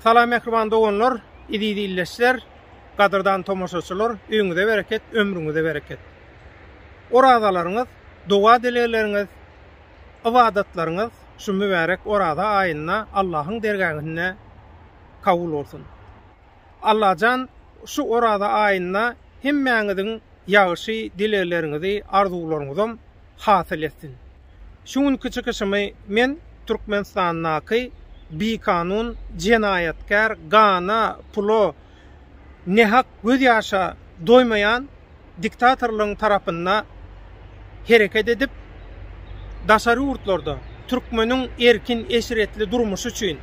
Salam mähriban doganlar, eziz ildeşler, gadyrdan tomaşaçylar, öýüňize bereket, ömrüňize bereket. Orazalaryňyz, doga-dilegleriňiz, ybadatlaryňyz şu mübärek Oraza aýynda Allahyň dergähinde kabul bolsun. Allajan şu Oraza aýynda hemmäňiziň ýagşy dilegleriňizi, arzuwlaryňyzam hasyl etsin. Şu günki çykyşymy men Türkmenistandaky bikanun jenaýatkär gana, pula, nähak göz ýaşa doýmaýan diktatorlaryň tarapynda hereket edip, daşary ýurtlarda türkmeniň erkin, eşretli durmuşy üçin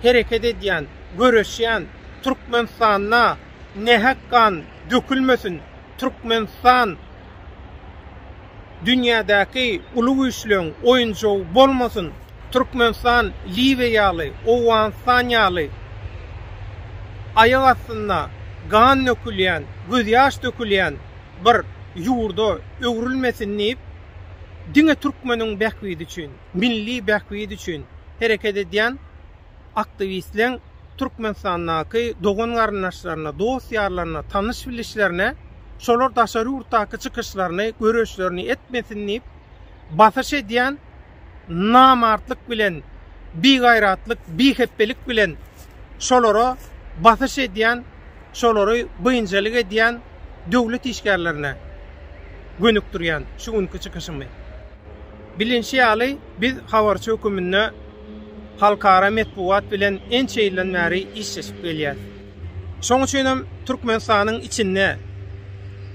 hereket edýän, göreşýän, Türkmenistanda nähak gan dökülmesin, Türkmenistan dünýädäki uly güýçleň oýunjagy bolmasyn, Türkmenistan Liwiýa ýaly, Owganystan ýaly aýak astynda gan dökülýän, gözýaş dökülýän bir ýurda öwrülmesin diýip, diňe türkmeniň bähbidi üçin, milli bähbidi üçin hereket edýän aktiwistleň Türkmenistandaky dogan-garyndaşlaryna, dost-ýarlaryna, tanyş-bilişlerine şolar daşary ýurtdaky çykyşlaryny, göreşlerini etmesin diýip, basyş edýän namartlyk bilen, bigaýratlyk, bihepbelik bilen şolara basyş edýän, şolary biynjalyk edýän döwlet işgärlerine gönükdirýän şu günki çykyşymy. Bilinşi ýaly, biz habarçy höküminde halkara metbugat bilen ençe ýyldan bäri işleşip gelýäris. Şoň üçin hem Türkmenistanyň içinde,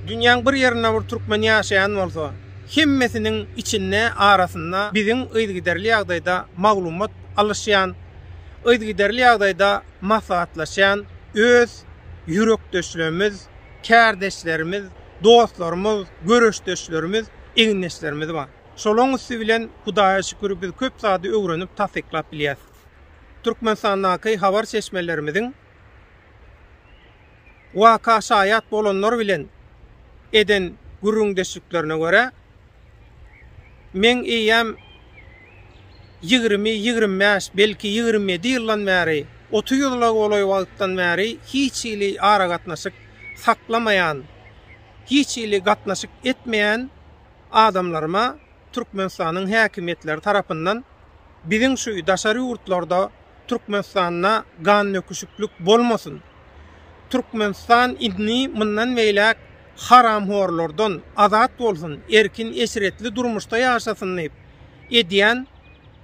dünýäň bir ýerinde bir türkmen ýaşaýan bolsa, hemmesiniň içinde, arasynda biziň yzygiderli ýagdaýda maglumat alyşýan, yzygiderli ýagdaýda maslahatlaşýan öz ýürekdeşlerimiz, kärdeşlerimiz, dostlarymyz, göreşdeşlerimiz, egindeşlerimiz bar. Şolaryň üsti bilen Hudaýa şükür biz köp zady öwrenip tassyklap bilýäs. Türkmenistandaky habar çeşmelerimiziň waka şaýat bolanlar bilen eden gürrüňdeşliklerine görä, meň eýýäm ýigrimi, ýigrimi bäş, belki ýigrimi ýedi ýyldan bäri, otuz ýyla golaý wagtdan bäri hiç hili aragatnaşyk saklamaýan, hiç hili gatnaşyk etmeýän adamlaryma Türkmenistanyň häkimiýetleri tarapyndan biziň şu daşary ýurtlarda Türkmenistanda gandöküşiklik bolmasyn, Türkmenistan indi mundan beýläk haramhorlardan azat bolsun, erkin eşretli durmuşda ýaşasyn diýip edýän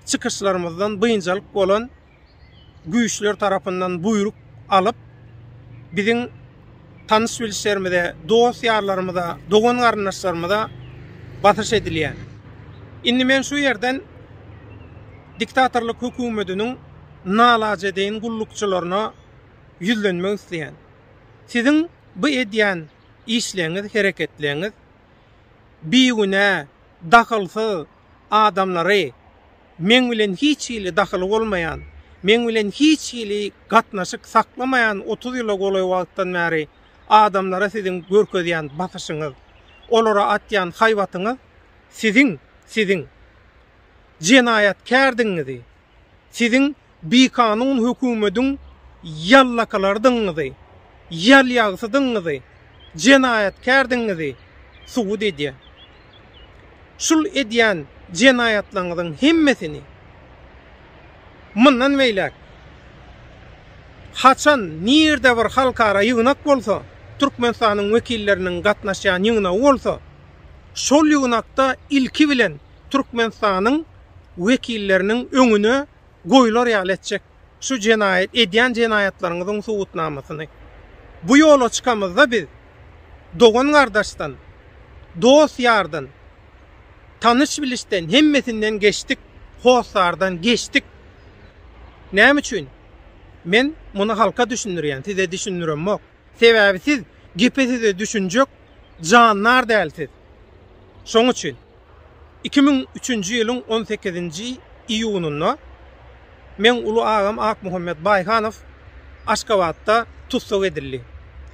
çykyşlarymyzdan biynjalyk bolan güýçler tarapyndan buýruk alyp, biziň tanyş-bilişlerimize, dost-ýarlarymyza, dogan-garyndaşlarymyza basyş edilýär. Indi men şu ýerden diktatorlyk hökümetiniň nalajedeýin gullukçylaryna ýüzlenmek isleýän. Siziň bu edýän işleňiz, hereketleňiz bigünä, dahylsyz adamlary, Meň bilen hiç hili dahyly bolmaýan, meň bilen hiç hili gatnaşyk saklamaýan otuz ýyla golaý wagtdan bäri adamlara siziň görkezýän basyşyňyz, olara atýan haýbatyňyz siziň, siziň jenaýatkärdigiňizi, siziň Bikanun hökümediň ýallakalardygyňyzy, ýalýagsydygyňyzy, jenaýatkärdigiňizi subut edýär. Şul edýän jenaýatlaryňyzyň hemmesini mundan beýläk haçan nirde bir halkara ýygnak bolsa, Türkmenistanyň wekilleriniň gatnaşýan ýygnagy bolsa, şol ýygnakda ilki bilen Türkmenistanyň wekilleriniň öňüne goýlar ýaly etjek şu jenaýat edýän jenaýatlaryňyzyň subutnamasyny. Bu ýola çykamyzda biz dogan-gardaşdan, dost-ýardan, tanyş-bilişden hemmesinden geçdik, hossardan geçdik. Näme üçin? Men muny halka düşündirýän, size düşündiremok. Sebäbi siz gepe-söze düşünjek jandar däl siz. Şoň üçin. Iki müň üçünji ýylyň on sekizinji iýunynda meň uly agam Akmuhammet Baýhanow Aşgabatda tussag edildi.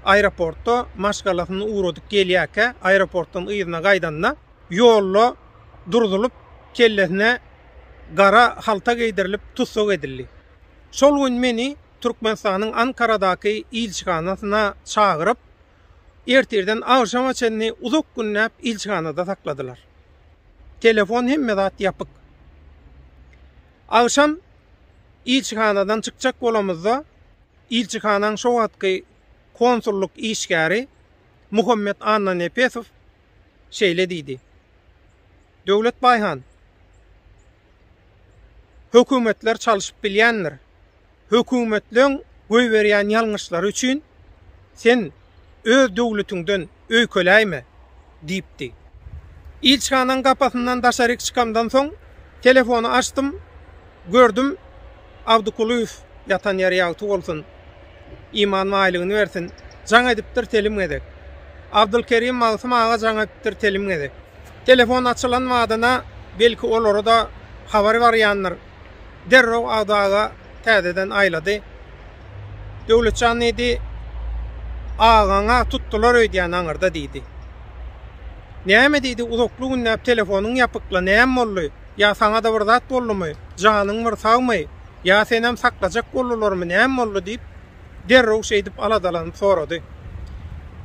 Aeroportda maşgalasyny ugradyp gelýärkä, aeroportdan yzyna gaýdanda, ýolda durzulyp, kellesine gara halta geýdirilip, tussag edildi. Şol gün meni Türkmenistanyň Ankaradaky ilçihanasyna çagyryp, Ertirden agşama çenli uzak günläp ilçihanada sakladylar. Telefon hemme zat ýapyk. Agşam ilçihanadan çykjak bolamyzda ilçihanaň şo wagtky konsullyk işgäri Muhammet Annanepesow şeýle diýdi. Döwlet Baýhan, hökümetler çalyşyp bilýändir. Hökümetleň goýberýän ýalňyşlary üçin sen öz döwletiňden öýkeläýme! diýipdi. Ilçihanaň gapasyndan daşaryk çykamdan soň, telefony açdym, gördüm, Abdykulyýew ýatan ýeri ýagty bolsun, iman baýlygyny bersin, jaň edipdir telim gezek. Abdylkerim Magtym aga jaň edipdir telim gezek. Telefon açylan badyna, belki, olara-da habar barýandyr. derrew Agdaga täzeden aýlady. Döwletjan diýdi, Agaň-a tutdular öýdýän aňyrda diýdi. Näme diýdi, uzakly günläp telefonyň ýapykla, näme boldy? Ýa saňa-da bir zat boldumy? Janyň bir sagmy? Ýa senem saklajak boldularmy, näme boldy diýip, derrew şeýdip aladalanyp sorady.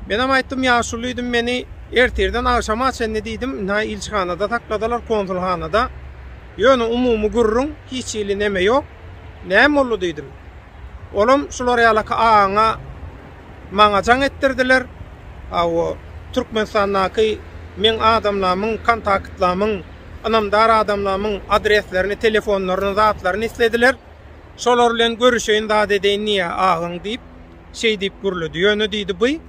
Menem aýtdym, ýaşuly diýdim, meni ertirden agşama çenli diýdim, nä ilçihanada sakladylar, konsulhanada. Ýöne umumy gürrüň, hiç hili neme ýok. Näme boldy diýdim. Olam şular ýalaky agaňa, maňa jaň etdirdiler. Hawa, Türkmenistandaky meň adamlamyň, kontaktlamyň, ynamdar adamlamyň adreslerini, telefonlaryny, zatlaryny islediler. Şolar bilen görüşeýin zat edeýin diýýä agaň diýip, şeý diýip gürledi. Ýöne diýdi, by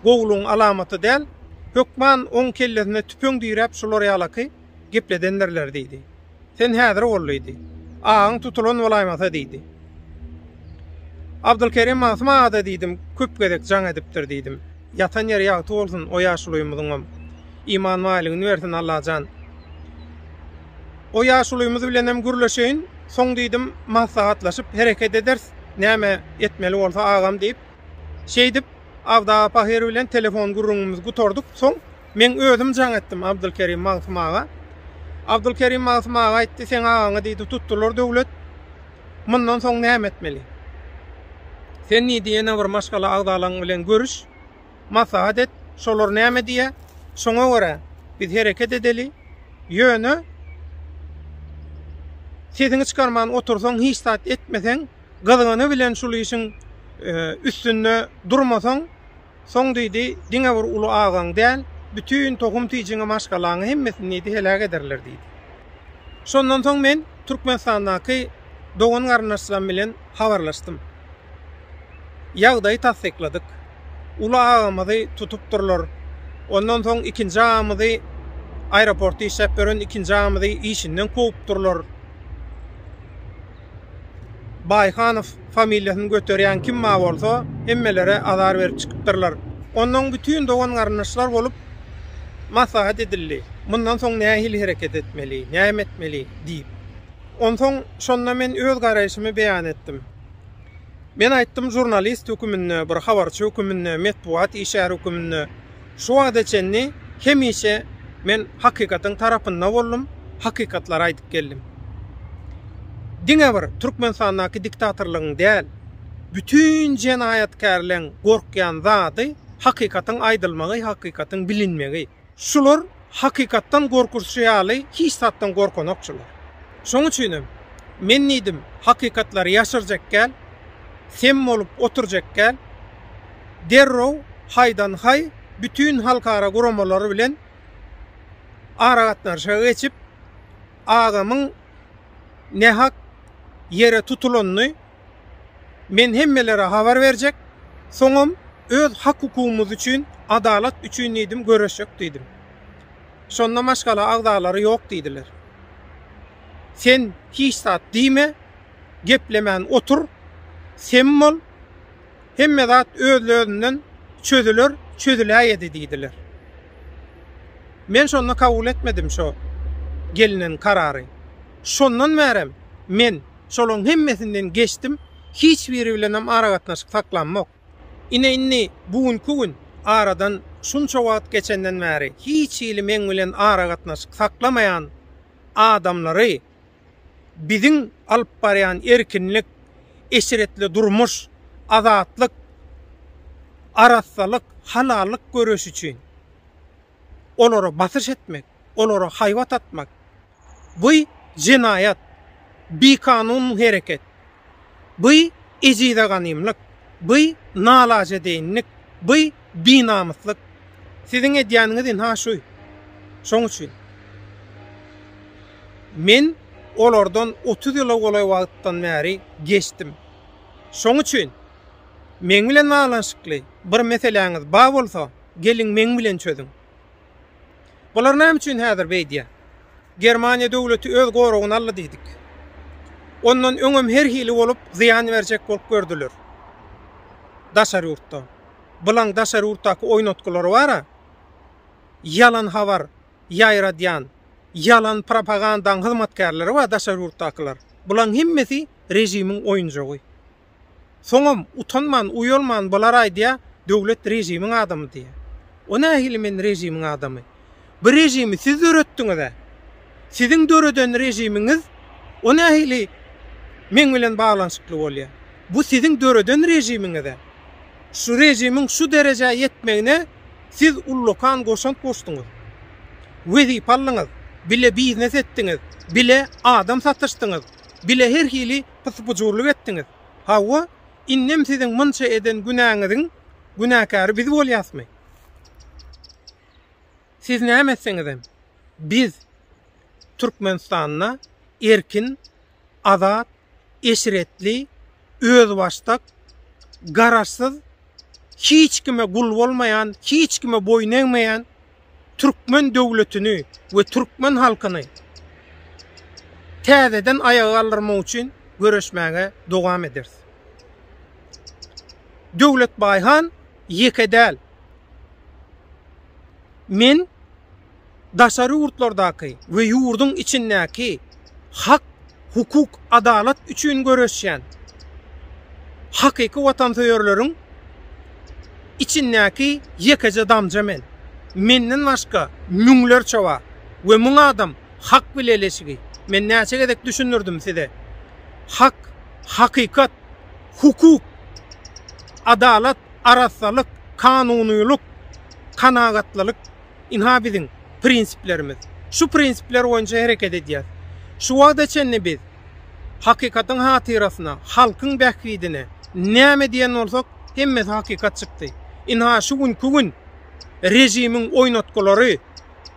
gowulygyň alamaty däl. Hökman oň kellesine tüpeň diräp şular ýalaky gepledendirler diýdi. Sen häzir bol diýdi. Agaň tutulan bolaýmasa diýdi. Abdylkerim Magtym aga-da diýdim, köp gezek jaň edipdir diýdim. Ýatan ýeri ýagty bolsun o ýaşulymyzyňam. Iman baýlygyny bersin Allajan. O ýaşulymyz bilenem gürleşeýin, soň diýdim, maslahatlaşyp hereket ederis, näme etmeli bolsa agam diýip. Şeýdip, Abdaba pahyr bilen telefon gürrüňimizi gutardyk. Soň meň özüm jaň etdim Abdylkerim Magtym aga. Abdylkerim Magtym aga aýtdy, seň agaňy diýdi, tutdular döwlet. Mundan soň näme etmeli? Sen diýdi, ýene bir maşgala agzalaň bilen görüş, maslahat et, şolar näme diýýär, şoňa görä biz hereket edeli, ýöne sesiňi çykarman otursaň, hiç zat etmeseň, gyzgyny bilen şul işiň üstünde durmasaň, soň diýdi, diňe bir uly agaň däl, bütin tohum-tijiňi, maşgalaňy hemmesini diýdi, heläk ederler diýdi. Şondan soň men Türkmenistandaky dogan-garyndaşlarym bilen habarlaşdym. Ýagdaýy tassykladyk. Uly agamyzy tutupdyrlar. Ondan soň ikinji agamyzy aeroportda işläp ýören ikinji agamyzy işinden kowupdyrlar. Baýhanow familiýasyny göterýän kim bar bolsa, hemmelere azar berip çykypdyrlar. Onnoň bütin dogan-garyndaşlar bolup maslahat edildi. Mundan soň nähili hereket etmeli, näme etmeli? diýip. Onsoň şonda men öz garaýşymy beýan etdim. Men aýtdym, žurnalist höküminde, bir habarçy höküminde, metbugat işgäri höküminde şu wagta çenli hemişe men hakykatyň tarapynda boldum, hakykatlary aýdyp geldim. Diňe bir Türkmenistandaky diktatorlygyň däl, bütin jenaýatkärleň gorkýan zady hakykatyň aýdylmagy, hakykatyň bilinmegi. Şular hakykatdan gorkuzçy ýaly hiç zatdan gorkanokçylar. Şoň üçinem, men diýdim, hakykatlary ýaşyrjak gäl, sem bolup oturjak gäl, derrew haýdan-haý bütin halkara guramalary bilen aragatnaşyga geçip, agamyň nähak ýere tutulanyny, Men hemmelere habar berjek, soňam öz hak-hukugymyz üçin, adalat üçin diýdim, göreşjek diýdim. Şonda maşgala agzalary ýok diýdiler. Sen hiç zat diýme, geplemän otur, sem bol, hemme zat özlözinden çözüler, çözüläýedi diýdiler. Men şonda kabul etmedim şo gelnen karary. Şondan bärem men. şolaryň hemmesinden geçdim, hiç biri bilenem aragatnaşyk saklamok. Ine indi bu günki gün, aradan şunça wagt geçenden bäri hiç hili meň bilen aragatnaşyk saklamaýan adamlary biziň alyp barýan erkinlik, eşretli durmuş, azatlyk, arassalyk, halallyk göreşi üçin olara basyş etmek, olara haýbat atmak, Bu jenaýat, bikanun hereket. Bu ejize ganymlyk, bu nalajedeýinlik, bu binamyslyk. Siziň edýäniňiz ynha şu. Şoň üçin men olardan otuz ýyla golaý wagtdan bäri geçdim. Şoň üçin meň bilen baglanyşykly bir meseläňiz bar bolsa, geliň meň bilen çözüň. Bular näme üçin häzir beýdýär? Germaniýa döwleti öz goragyna aldy diýdik. Ondan öňem her hili bolup, zyýan berjek bolup gördüler. Daşary ýurtda. Bulaň daşary ýurtdaky oýnatgylary bar-a. Ýalan habar ýaýradýan, ýalan propagandaň hyzmatkärleri bar daşary ýurtdakylar. Bulaň hemmesi režimiň oýunjagy. Soňam utanman, uýalman bular aýdýa, döwlet režimiň adamy diýýä. O nähili men režimiň adamy? Bu režimi siz döretdiňiz-ä. Siziň döreden režimiňiz o nähili meň bilen baglanyşykly bolýa? Bu siziň döreden režimiňiz-ä. Şu režimiň şu derejä ýetmegine siz ullakan goşant goşduňyz. Wezipe aldyňyz, bile biznes etdiňiz, bile adam satyşdyňyz, bile her hili pysybujurlyk etdiňiz. Hawa, indem siziň munça eden günäňiziň günäkäri biz bolýasmy? Siz näme etseňizem, biz Türkmenistanda erkin, azat, eşretli, özbaşdak, garaşsyz hiç kime gul bolmaýan, hiç kime boýun egmeýän türkmen döwletini we türkmen halkyny täzeden aýaga galdyrmak üçin göreşmäge dowam ederis. Döwletbaý han ýeke däl. Men daşary ýurtlardaky we ýurduň içindäki hak, hukuk, adalat üçin göreşýän hakyky watansöýerleriň içindäki ýekeje damja men. Menden başga müňlerçe bar we müň adam hak bileleşigi. Men näçe gezek düşündirdim size. Hak, hakykat, hukuk, adalat, arassalyk, kanunylyk, kanagatlylyk. Ynha biziň prinsiplerimiz. Şu prinsipler boýunça hereket edýäs. Şu wagta çenli biz hakykatyň hatyrasyna, halkyň bähbidine näme diýen bolsak, hemmesi hakykat çykdy. Ynha şu günki gün režimiň oýnatgylary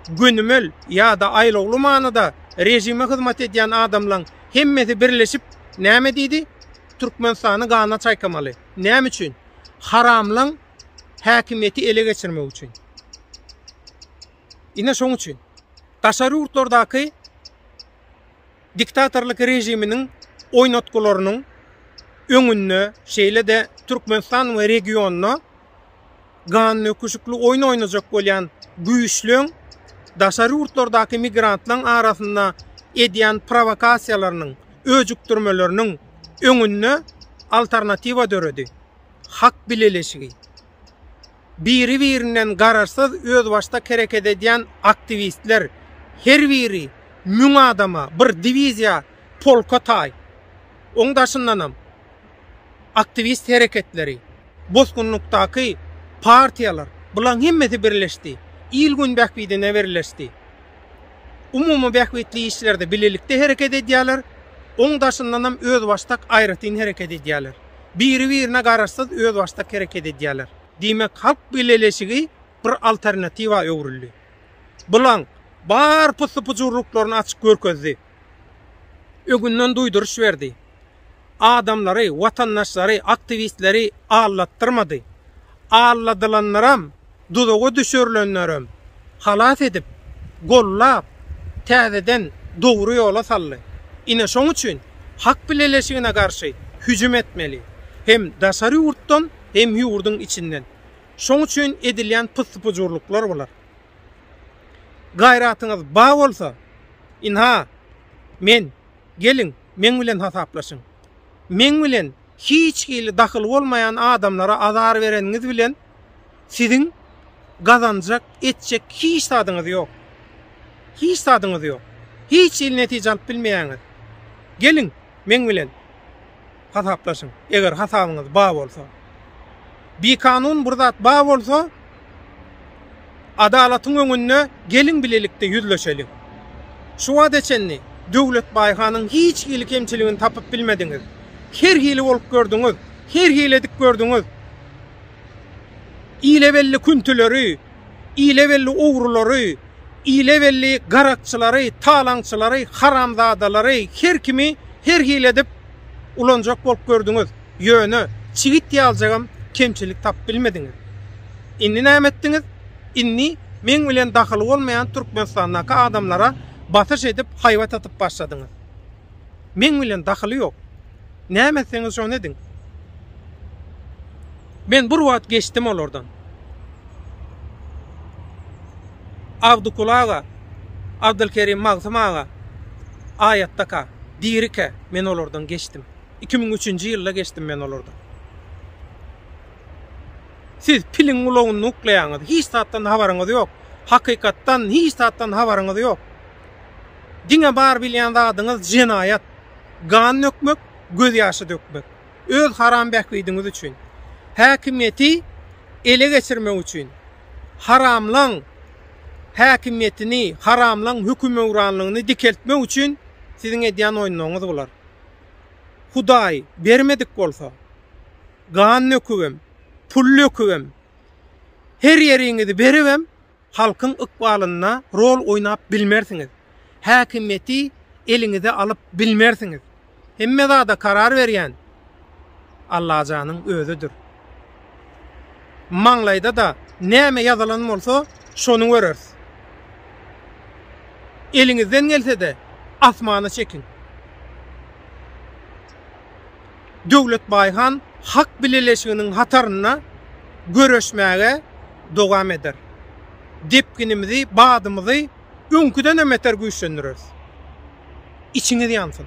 gönümel ýa-da aýlawly manyda režime hyzmat edýän adamlaň hemmesi birleşip näme diýdi? Türkmenistany gana çaýkamaly. Näme üçin? Haramlaň häkimiýeti ele geçirmek üçin. Ine şoň üçin daşary ýurtlardaky diktatorlyk režiminiň oýnatgylarynyň öňünde, şeýle-de Türkmenistan we regionda ganöküşikli oýun oýnajak bolýan güýçleň daşary ýurtlardaky migrantlaryň arasynda edýän prowokasiýalarynyň, öjükdirmeleriniň öňünde alternatiwa döredi, hak bileleşigi. biri-birinden garaşsyz özbaşdak hereket edýän aktiwistler, her biri müň adama, bir diwiziýa, polka taý. Oň daşyndanam aktiwist hereketleri, bosgunlykdaky partiýalar, bulaň hemmesi birleşdi. Il-gün bähbidine birleşdi. Umumy bähbitli işlerde bilelikde hereket edýärler, oň daşyndanam özbaşdak aýratyn hereket edýärler. biri-birine garaşsyz özbaşdak hereket edýärler. Diýmek, halk bileleşigi bir alternatiwa öwrüldi. Bulaň bar pussy-pujurlyklaryny açyk görkezdi. Öňünden duýduryş berdi. Adamlary, watandaşlary, aktiwistleri aldatdyrmady. Alladylanlaram duzaga düşürilenlerem halas edip, gollap, täzeden dogry ýola saldy. Ine şoň üçin Hak bileleşigine garşy hüjüm etmeli. Hem daşary ýurtdan, hem ýurduň içinden. Şoň üçin edilýän pyssy-pujurlyklar bular. Gaýratyňyz ba bolsa, ynha, men, geliň, meň bilen hasaplaşyň. Meň bilen hiç hili dahyly bolmaýan adamlara azar bereniňiz bilen, siziň gazanjak, etjek hiç zadyňyz ýok. Hiç zadyňyz ýok. Hiç hili netije alyp bilmeýäňiz. Geliň, meň bilen hasaplaşyň, eger hasabyňyz bar bolsa. Bikanun bir zat bar bolsa, adalatyň öňünde geliň bilelikde ýüzleşeliň. Şu wagta çenli Döwletbaý hanyň hiç hili kemçiligini tapyp bilmediňiz. Her hili bolup gördüňiz, her hili edip gördüňiz. Ile belli küntüleri, ile belli ogrulary, ile belli garakçylary, talaňçylary, haramzadalary, her kimi her hili edip ulanjak bolup gördüňiz. Ýöne, çigit ýaljagam kemçilik tapyp bilmediňiz. Indi näme etdiňiz? Indi meň bilen dahyly bolmaýan Türkmenistandaky adamlara basyş edip haýbat atyp başladyňyz. Meň bilen dahyly ýok. Näme etseňiz şony ediň. Men bir wagt geçdim olardan. Abdykul aga, Abdylkerim Magtym aga aýatdaka, dirike men olardan geçdim. Iki müň üçünji ýylda geçdim men olardan. Siz piliň gulagyny uklaýaňyz. Hiç zatdan habaryňyz ýok. Hakykatdan hiç zatdan habaryňyz ýok. Diňe bar bilýän zadyňyz jenaýat, gan dökmek, gözýaşy dökmek. Öz haram bähbidiňiz üçin. Häkimiýeti ele geçirmek üçin. Haramlaň häkimiýetini, haramlaň hökümöwranlygyny dikeltmek üçin siziň edýän oýunlaryňyz bular. Hudaý bermedik bolsa, gan dökübem, pul dökübem, her ýeriňizi beribem, halkyň ykbalynda rol oýnap bilmersiňiz, häkimiýeti eliňize alyp bilmersiňiz. Hemme zada karar berýän Allajanyň özüdir. Maňlaýda-da näme ýazylan bolsa, şony göreris. Eliňizden gelse-de, asmana çekiň. Döwletbaý han hak bileleşiginiň hatarynda göreşmäge dowam eder. Depginimizi, badymyzy öňküdenem beter güýçlendireris. Içiňiz ýansyn!